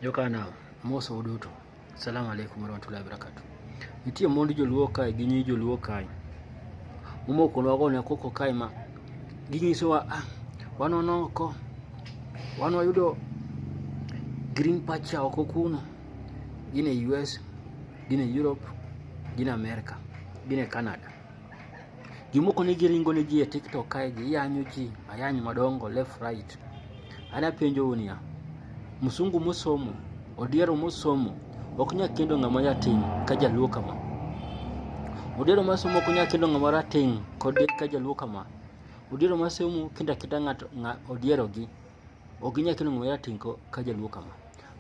Jokana moso uduto. Assalamu alaikum warahmatullahi wabarakatuh. Nitie mond joluo kae gi nyi joluo kae. Momoko nwago ne koko kae ma ginyisowa ah, wanono oko wan wayudo green pacha oko kuno gin e US gin e Europe gin e America gin e Canada Jomoko ne giringo ne ji e TikTok kae giyanyo ji ayany madongo left right. Ana penjo unia, msungu musomo, odiero musomo, ok nya kendo ng'ama yatim ka jaluo kama. Odiero masomo ok nya kendo ng'ama rating' kod ka jaluo kama. Odiero masomo kenda kenda ng'ato odiero gi. Ok ginyal kelo ng'ama rateng' ka jaluo kama.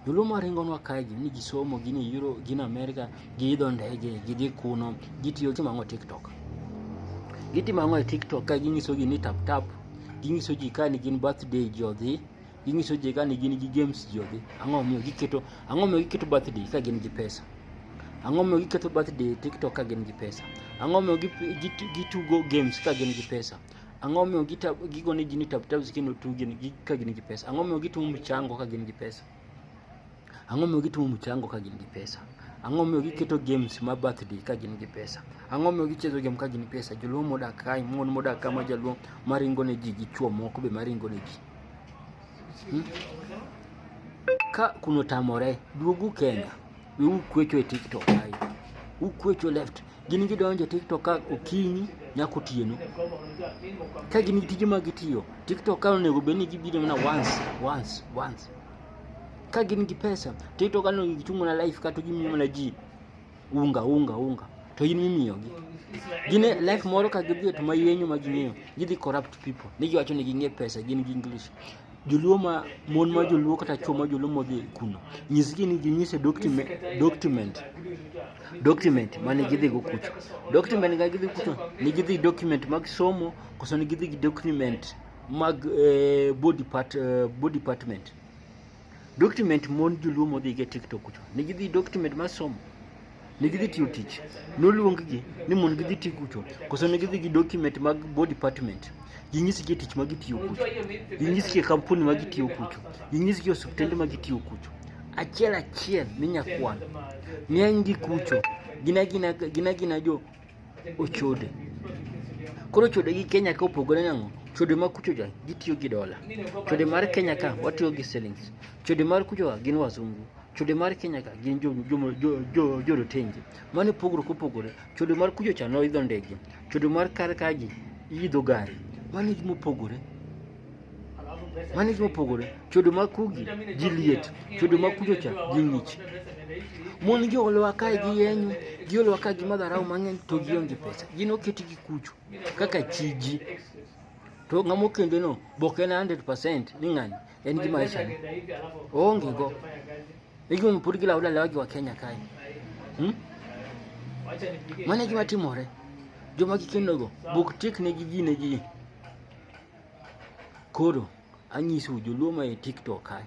Joluo ma ringonwa kae gin ni gisomo, gin e Euro, gin Amerika, giidho ndege, gidhi kuno, gitiyo timo ang'o TikTok. Gitimo ang'o e TikTok ka ginyiso ji ni tap tap, ginyiso ji ka ni gin birthday ji odhi, ginyiso ji ka ni gin gi games ji odhi. Ang'o miyo giketo ang'o miyo giketo birthday ka gin gi pesa? Ang'o miyo giketo birthday TikTok ka gin gi pesa? Ang'o miyo gitugo games ka gin gi pesa? Ang'o momiyo gigo ni ji ni taputaps kendo tugi ka gin gi pesa? Ang'o momiyo gitimo mchango ka gin gi pesa? Ang'o momiyo gitimo mchango ka gin gi pesa? Ang'o momiyo giketo games ma birthday ka gin gi pesa? Ang'o momiyo gichezo game ka gin gi pesa? Joluo modak kae, mon modak ka ma jaluo maringo ne ji gi chwo moko be maringo ne ji. Hmm? Ka kuno tamore, duogu Kenya. We ukwecho e TikTok ai. Ukwecho left. Gin gidonjo e TikTok ka okinyi nyako tieno. Ka gin tije ma gitiyo, TikTok ka onego bed ni gibiro mana once, once, once. Ka gin gi pesa, TikTok ka onego gichung' mana live kata gimiyo mana ji unga unga unga to in mimiyogi gin e life moro ka gidhi to maywenyo ma ging'eyo gidhi corrupt people ni giwacho ni ging'e pesa gin gi english joluo ma mon ma joluo kata chwo ma joluo modhi kuno nyisgi ni ginyise document document document mane gidhi go kucho document ga gidhi kucho ni gidhi document mag somo koso ni gidhi gi document mag eh, body part eh, body department document mon joluo modhi go e TikTok kucho ni gidhi document mar somo ne gidhi tiyo tich, noluonggi ni mondo gidhi ti kucho, koso ne gidhi gi document mag board department, ginyisgi tich ma gitiyo kucho, ginyisgi kampuni ma gitiyo kucho, ginyisgi osiptende ma gitiyo kucho. Achiel achiel ni nyakwan, ng'eny gi kucho, gin agina gin agina jo ochode. Koro chode gi Kenya ka opogore nang'o? Chode ma kucho ja gitiyo gi dola, chode mar Kenya ka watiyo gi shillings, chode mar kucho wa gin wazungu. Chode mar Kenya ka gin jorotenge. Mano e pogruok mopogore. Chode mar kucho cha noidho ndege. Chode mar kar ka ji idho gari. Mano e gima opogore. Mano e gima opogore. Chode mar kugi ji liet. Chode mar kucho cha ji ng'ich. Mon gi olowa kae gi yenyo, gi olowa kae gi madharau mang'eny to gionge pesa. Gin oketi gi kucho kaka chiji. To ng'ama okendeno be ok en 100% ni ng'ani. Yaani kima maisha. Ongi go. Iki mpuri kila ula lawaki wa Kenya kai. Hmm? Mane kima timore. Joma kikendo go. Buk tik ne gigi ne gigi. Koro anyisu joluo ma e TikTok kai.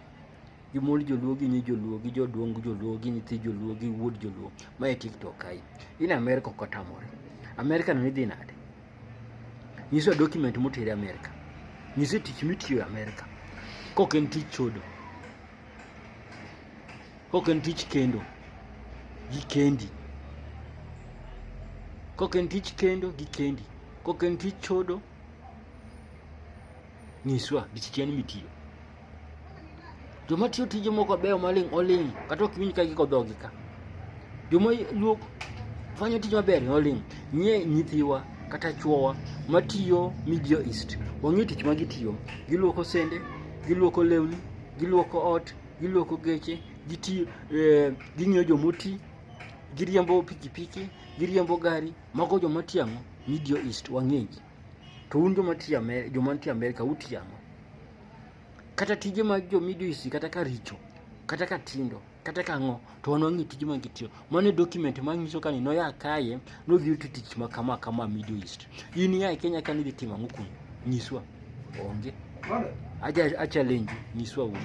Jomol joluo gi nyi joluo gi joduong joluo gi nyithi joluo gi wuod joluo ma e TikTok kai. In America kotamore. America no idhi nade? Nyiswa document moteri Amerika. Nyiswa tich mitiyo e Amerika. Kok en tich chodo. Kok en tich kendo. Gi kendi. Kok en tich kendo gi kendi. Kok en tich chodo. Nyiswa gi tich en mitiyo. Joma tiyo tije moko beyo maling' oling' kata ok winj ka giko dhogi ka. Joma luok fanyo tije maber oling' nye nyithiwa kata chuowa matiyo Middle East. Wang'e tich ma gitiyo. Giluoko sende, giluoko lewni, giluoko ot, giluoko geche, gitiyo, eh, ging'iyo jomoti, giriembo pikipiki, giriembo gari, mago joma tiyo ang'o? Middle East wang'egi. To un joma tiyo Amer- joma nitie Amerika utiyo ang'o? kata tije mag jo midisi kata ka richo kata ka tindo kata ka ng'o to wan wang'e tije mag tiyo mano e document ma nyiso ka ni noya kaye nodhi yuto tich ma kama kama middle east in ya e kenya ka nidhi timo ang'o kuno nyiswa onge acha acha lenji nyiswa wuon